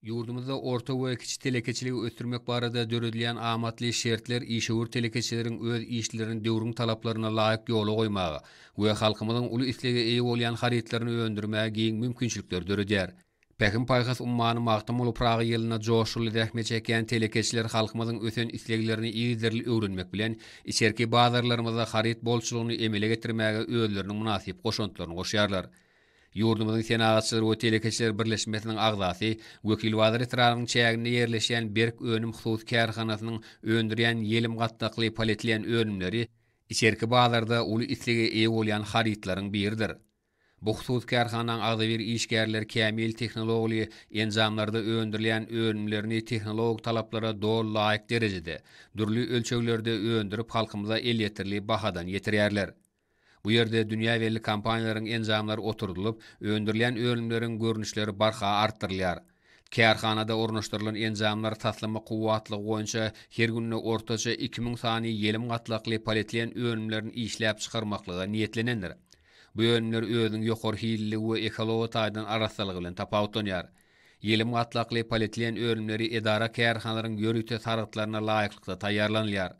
Ýurdumyzda orta we kiçi telekeçiligi ösdürmek barada döredilýän amatly şertler işewür telekeçileriň öz işlerini döwrüň talaplaryna laýyk ýola goýmaga we halkymyzyň uly islege eýe bolýan harytlaryny öndürmäge giň mümkinçilikleri döredýär. Pähim-paýhas ummany Magtymguly Pyragy ýylynda joşgunly zähmet çekýän telekeçiler halkymyzyň ösen isleglerini yzygiderli öwrenmek bilen, içerki bazarlarymyzda haryt bolçulygyny emele getirmäge özleriniň mynasyp goşantlaryny goşýarlar. Ýurdumyzyň Senagatçylar we telekeçiler birleşmesiniň agzasy, Wekilbazar etrabynyň çäginde ýerleşýän Berk önüm hususy kärhanasynyň öndürýän ýelim gatlakly polietilen önümleri içerki bazarda uly islege eýe bolýan harytlaryň biridir. Bu hususy kärhanaň agzybir işgärleri kämil tehnologly enjamlarda öndürilýän önümlerini tehnologik talaplara doly laýyk derejede, dürli ölçeglerde öndürip halkymyza elýeterli bahadan ýetirýärler. Bu ýerde dünýä belli kompaniýalaryň enjamlary oturdylyp, öndürilýän önümleriň görnüşleri barha artdyrylýar. Kärhanada ornaşdyrylan enjamlar taslama kuwwatlygy boýunça her günde ortaça iki müň sany ýelim gatlakly polietilen önümlerini işläp çykarmaklyga niýetlenendir. Bu önümler özüniň ýokary hilliligi we ekology taýdan arassalygy bilen tapawutlanýar. Ýelim gatlakly polietilen önümleri edara-kärhanalaryň ýörite sargytlaryna laýyklykda taýýarlanylýar.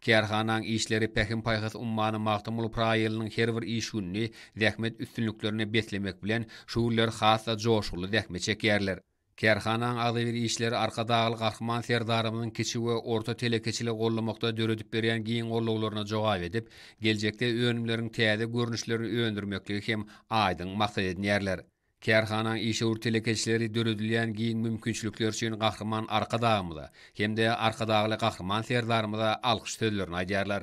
Kärhanaň işleri Pähim-paýhas ummany Magtymguly Pyragy ýylynyň her bir iş gününi zähmet üstünliklerine beslemek bilen, şu günler has-da joşguly zähmet çekýärler. Kärhanaň agzybir işleri Arkadagly Gahryman Serdarymyzyň kiçi we orta telekeçiligi goldamakda döredip berýän giň gollawlaryna jogap edip, geljekde önümleriň täze görnüşlerini öndürmekligi hem aýdyň maksat edinýärler. Kärhanaň işewür telekeçileri döredilýän giň mümkinçilikler üçin Gahryman Arkadagymyza hem-de Arkadagly Gahryman Serdarymyza alkyş sözlerini aýdýarlar.